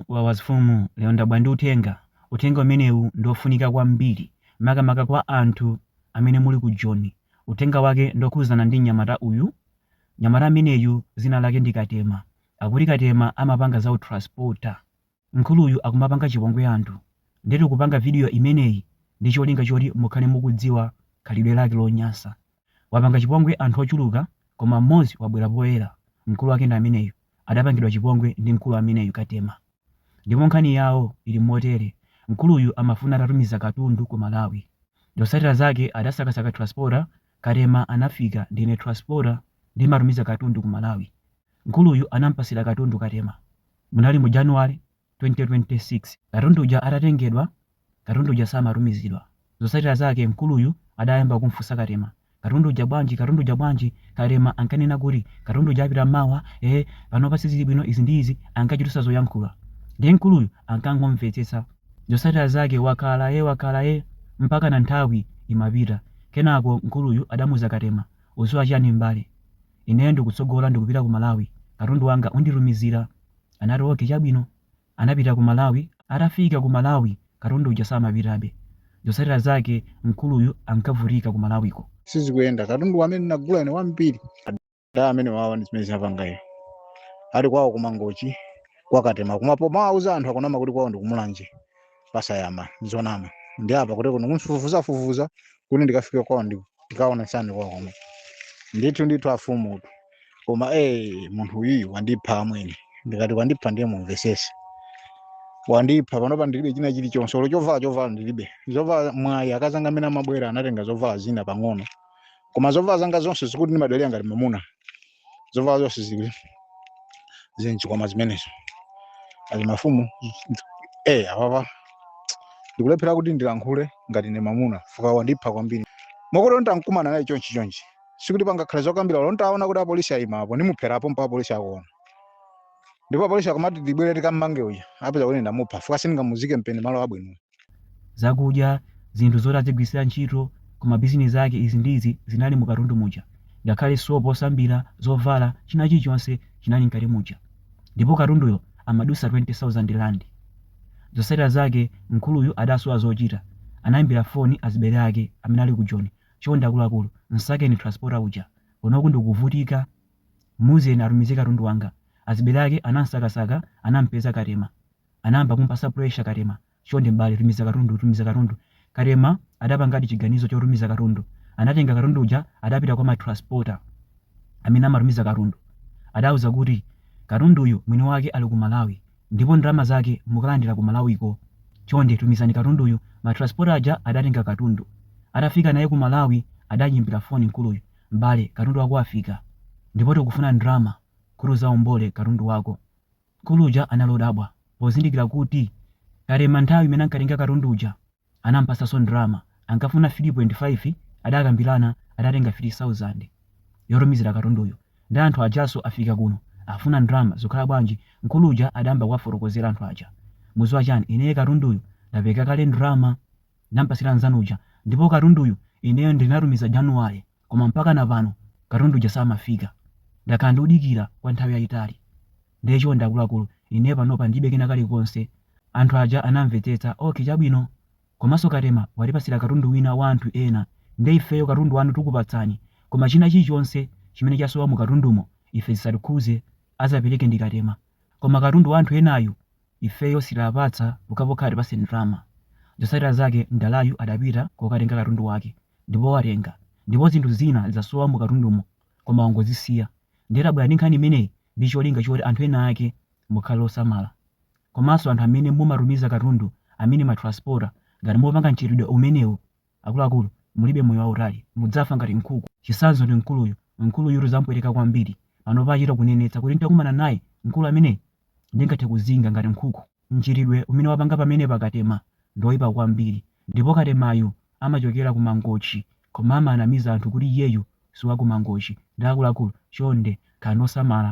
Wawa azifumu lero ndabwera ndi uthenga, uthenga umenewu ndi ofunika kwambiri makamaka kwa anthu amene muli ku Joni, uthenga wake ndi okhuzana ndi mnyamata uyu, mnyamata ameneyu zina lake ndi Katema, akuti Katema amapanga za u transporter, mkuluyu akumapanga chipongwe anthu nde tikupanga video imeneyi ndi cholinga choti mukhale mukudziwa khalidwe lake lonyansa. Wapanga chipongwe anthu ochuluka koma mmodzi wabwera poyera mkulu wake ndi ameneyu adapangidwa chipongwe ndi mkulu ameneyu Katema ndipo nkhani yawo ili motere mkuluyu amafuna atatumiza katundu ku Malawi zotsatira zake adasakasaka transporter Katema anafika ndine transporter ndimatumiza katundu ku Malawi mkuluyu anampatsira katundu Katema munali mu January 2026 katundu uja atatengedwa katundu uja samatumizidwa zosatira zake mkuluyu adayamba kumfunsa Katema katundu uja bwanji katundu uja bwanji Katema ankanena kuti katundu uja apita mawa eh panopa sizili bwino izi ndi izi ankachitusa zoyankhula ndiye mkuluyu ankangomvetsetsa zosatira zake wakhala ye wakhala ye mpaka na nthawi imapita kenako mkuluyu adamuuza Katema udziwa chiyani m'bale ineyo ndikutsogola ndikupita ku malawi katundu wanga unditumizira Anati ok chabwino. Anapita ku Malawi, atafika ku Malawi katundu uja samapitabe. Zotsatira zake mkuluyu ankavutika ku Malawiko. sizikuyenda. Katundu amene ndinagula ine wambiri. Ada amenewawa ndi zimene zinapanga iyo. Ali kwawo ku Mangochi kwa Katema. Koma pomawauza anthu akumanama kuti kwawo ndi ku Mulanje. pasayama zonama ndi apa kuti kuno kunfufuza fufuza kuti ndikafike kwao ndi- ndikaona chani kwao komwe ndithu ndithu afumu utu koma eh munthu uyu wandipha amwene ndikati wandipha ndiye mumvesese wandipha panopa ndilibe china chilichonse olo chovala chovala ndilibe zovala mwayi akazanga amene amabwera anatenga zovala zina pang'ono koma zovala zanga zonse zikuti ndimadalira ngati mamuna zovala zonse zili zili m'chikwama zimenezo azimafumu eh apapa ndikulephera kuti ndilankhule ngati ndi mamuna fuka wandipha kwambiri mokolo ntankumana naye chonchi chonchi sikuti pangakhale zokambira olo ntaona kuti apolisi ayima apo ndimupherapo mpa apolisi akuona ndipo apolisi akamati tibwere tikammange uja apeza kuti ndamupha fuka sindingamuzike mpeni malo abwino zakudya, zinthu zoti adzigwiritsira ntchito ku mabizinesi ake, izi ndi izi zinali mu katundu muja, ngakhale sopo osambira, zovala, china chilichonse chinali mkati muja. Ndipo katunduyo amadutsa 20,000 rand. Zotsatira zake mkuluyu adasowa zochita, anaimbira foni azibale ake amene ali ku Joni, chonde akuluakulu, msakeni transporter uja, kunoku ndikuvutika, muuzeni atumize katundu wanga. Azibale ake anamsakasaka, anampeza Katema. anayamba kumupasa pressure Katema, chonde m'bale tumiza katundu, tumiza katundu. Katema adapangadi chiganizo chotumiza katundu. Anatenga katundu uja adapita kwa ma transporter amene amatumiza katundu. Adawauza kuti, katunduyu mwini wake ali ku Malawi ndipo ndalama zake mukalandira ku Malawiko. Chonde tumizani katunduyu. Ma transporter aja adatenga katundu. Atafika naye ku Malawi adayimbira foni mkuluyu, m'bale katundu wako wafika ndipo tikufuna ndalama kuti uzaombole katundu wako. Mkulu uja anali odabwa pozindikila kuti Katema nthawi imene ankatenga katundu uja anampasaso ndalama ankafuna 3.5 adakambilana adatenga 3000 yotumizila katunduyo nde anthu ajaso afika kuno afuna ndalama zukhala bwanji mkulu uja adayamba kuwafotokozela anthu aja muziwa chani ineye katunduyu ndapereka kale ndalama ndampasila nzanu uja ndipo katunduyu ineyo ndinatumiza January koma mpakana pano katundu uja samafika. Ndakhala ndikudikira kwa nthawi yaitali. Ndiye chonde akuluakulu, ine panopa ndilibe kena kalikonse. Anthu aja anamvetsetsa, okay chabwino. Komanso Katema watipatsira katundu wina wa anthu ena nde ifeyo katundu wanu tikupatsani koma china chilichonse chimene chasowa mu katundumo ife zisatikhuze azapereke ndi Katema koma katundu wa anthu enayu ifeyo sitiapatsa pokhapokha atipatse ndalama. Zotsatira zake mdalayu adapita kokatenga katundu wake. ndipo watenga ndipo zinthu zina zasowa mu katundumo koma wangozisiya ndiye tabwera ndi nkhani imeneyi ndi cholinga choti anthu ena ake mukhale osamala komanso anthu amene mumatumiza katundu a matransporta ngati mupanga mchitidwe umenewu akuluakulu mulibe moyo wautali mudzafa ngati nkhuku chisanzo ndi mkuluyu mkuluyu zampweteka kwambiri panopa achita kunenetsa kuti nitakumana naye mkulu ameneyu ndingathe kuzinga ngati nkhuku Mchitidwe umene wapanga pamenepa Katema ndi oipa kwambiri ndipo Katemayu amachokera ku Mangochi koma amanamiza anthu kuti iyeyu si wa ku Mangochi nde akuluakulu chonde khalani osamala.